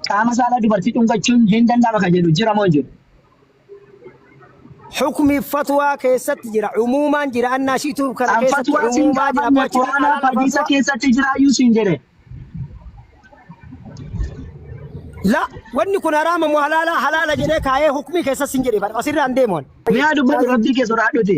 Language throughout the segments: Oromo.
qaama saalaa dubartii dhungachuun hin danda'ama kan jedhu jira moo hin jiru? Hukmi fatwaa keessatti jira. Umuumaan jira. Annaa shiitu kana Kan keessatti fatwaa siin umuumaa jira. gaafanne Abbaa Qur'aanaa Jalaal hadiisa fatwaa. keessatti jiraayyuu siin jedhe. La wanni kun haraama moo halaala halaala jedhee kaayee hukmii keessas hin jedhe. Asirraan deemuun. Miyaa dubbatu rabbii kee sodaadhuti.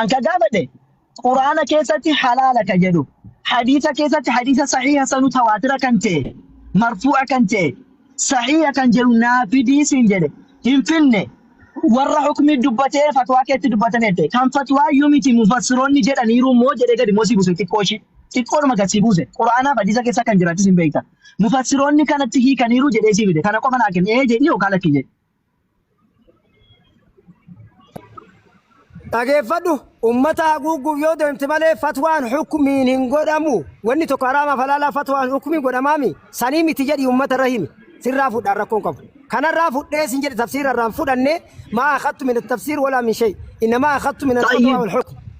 An ka gaafadhe Quraana keessatti halaala ka jedhu hadiisa keessatti hadiisa sahiha sanu tawaatira kan ta'e marfuu'a kan ta'e sahiha kan jedhu naa fidii siin jedhe hin finne warra hukmii dubbatee fatwaa keetti dubbatan jette kan fatwaa iyyuu miti mufassiroonni jedhaniiru moo jedhee gadi moo si buuse xiqqoo ishii xiqqoodhuma gad si buuse Quraanaaf hadiisa keessa kan jiraachis hin beekta mufassiroonni kanatti hiikaniiru jedhee si fide kana qofa naa kenna ee jedhi yookaan lakki jedhi. dhageeffadhu ummata haguugguuf yoo deemte malee fatwaan hukmiin hin godhamu wanni tokko haraamaaf halaalaa fatwaan hukmiin godhamaami sanii miti jedhi ummata irra himi sirraa fudhaan rakkoon qabu kanarraa fudhee sin jedhe tafsiira irraan fudhanne maa akhattu min tafsiir walaa min shay innamaa akhattu min alfatwaa wal hukm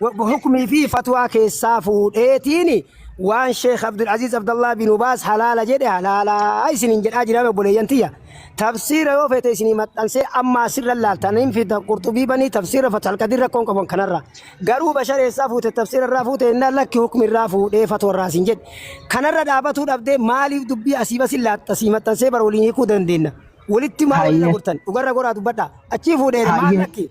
hukmii fi fatwaa keessaa fuudheetiin waan sheekh abdulaziiz abdallaa bin ubaas halaala jedhe halaalaa isinin jedhaa jiraame obboleeyyan tiyya tafsiira yoo feete isinii maxxansee amma asirra laaltan hin fida qurxubii banii tafsiira fatalqadii rakkoon qaban kanarra garuu bashareessaa fuute tafsiira irraa fuute innaan lakki hukmi irraa fuudhee fatwa irraa isin jedhe kanarra dhaabatuu dhabdee maaliif dubbii asii basin laatta sii maxxansee bara waliin hiikuu dandeenya walitti maal waliin Hayyee. gurtan dhugarra goraa dubbadha achii fuudhee maal Hayyee. lakki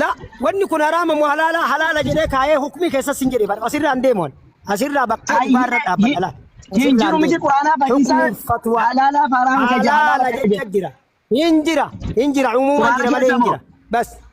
La wanni kun haraama moo halaala halaala jedhee kaayee hukmii keessas hin jedhe bar asirraa hin deemu ani. asirraa bakka dhugaa irra dhaabbata la. Hin jiru miti Qur'aanaa fayyisaa Hukmiin fatwaa halaalaa fi haraama isa halaala halaala jecha jira. Hin jira hin jira umuumaan Qur'aana jira malee keessa hin moo? jira. Bas.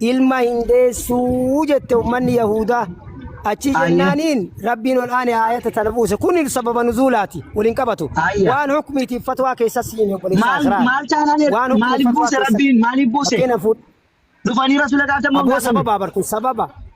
ilma hin deessu jette ummanni Yahuudaa. Achii Ayya. jennaaniin Rabbiin ol aane aayata tana buuse. Kun sababa nuzuulaati. Waliin qabatu. Ayya. Waan hukmiitiif fatwaa keessas siin obboleessa Maal- Asraar. maal taanaan er- Waan hukmiif maaliif fatwaa buuse keessas- Rabbiin? Maaliif buuse? Fakkeenya fuudh- Dhufanii Rasuula gaafatan moo hin Aboo gaafanne? sababa barkun sababa.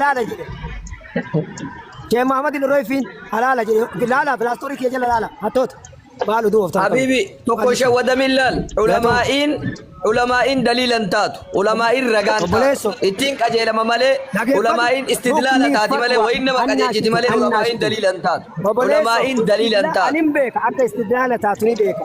Laala jedhe. Sheekh Muhammad hin royfiin halaala jedhe. Laala pilaastorii kee jala laala. Hattoota. Maal oduu of taphatan? Habibi tokko shawwadamin laal ulamaa'iin ulamaa'iin daliilan taatu ulamaa'iin ragaan Obboleesso. taatu ittiin qajeelama malee Dhageeffadhu. ulamaa'iin istidlaala Rukni taati malee fatwa. wayin nama Annaa qajeelchiti malee annaa ulamaa'iin sun. daliilan taatu Obboleesso. ulamaa'iin daliilan taatu Ani hin beeka akka istidlaala taatu ni beeka.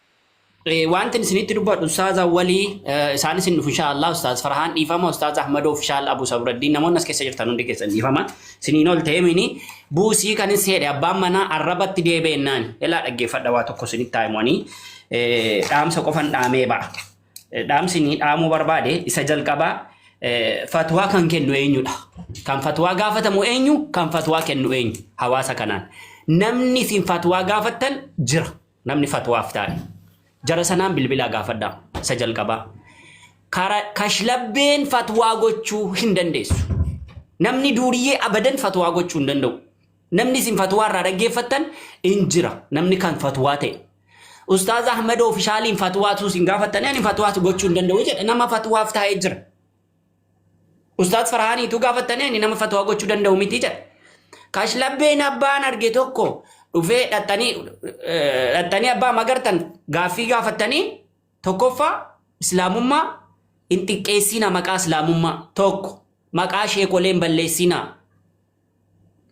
Eh, Wanti isinitti dubbadhu ustaaza walii eh, isaanis hin dhufu inshaallah ustaaz Farhaan dhiifama ustaaz Ahmadoo ofishaal Abu Sabraddiin namoonni as keessa jirtan hundi keessan dhiifama isiniin ol ta'ee mini buusii kan is jedhe abbaan manaa arrabatti deebi'ennaan ilaa dhaggeeffadha waa tokko isinitti taa'imanii dhaamsa qofan dhaamee ba'a. Eh, Dhaamsi inni dhaamuu barbaade isa jalqabaa eh, fatwaa kan kennu eenyudha. Kan fatwaa gaafatamu eenyu kan fatwaa kennu eenyu hawaasa kanaan. Namni isin fatwaa gaafattan jira. Namni fatwaaf taa'e jara sanaan bilbilaa gaafadhaa isa jalqabaa. Kara kashlabbeen fatwaa gochuu hin dandeessu. Namni duuriyyee abadan fatwaa gochuu hin danda'u. Namni isin fatwaa irraa dhaggeeffattan hin jira. Namni kan fatwaa ta'e. Ustaaz Ahmad ofishaaliin fatwaatu isin gaafattanii ani fatwaatu gochuu hin danda'u jedha. Nama fatwaaf taa'ee jira. Ustaaz Farhaanii utuu gaafattanii ani nama fatwaa gochuu danda'u miti jedha. Kashlabbeen abbaan arge tokko dhufee dhaxxanii eh, dhaxxanii abbaa magartan gaaffii gaafattanii tokkoffaa islaamummaa hin xiqqeessiina maqaa islaamummaa tokko maqaa sheekoleen balleessiina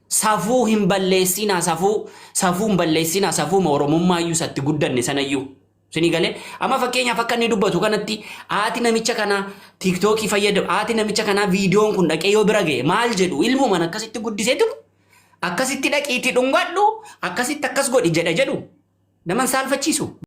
Safuu hin balleessiinaa safuu safuu hin balleessiinaa safuuma oromummaa iyyuu isatti guddanne sana iyyuu. Sinii galee amma fakkeenyaaf akka inni dubbatu kanatti haati namicha kanaa tiiktookii fayyadamu haati namicha kanaa viidiyoon kun dhaqee yoo bira ga'e maal jedhu ilmumaan akkasitti guddisee jiru akkasitti dhaqiitii dhungadhu akkasitti akkas godhi jedha jedhu naman saalfachiisu.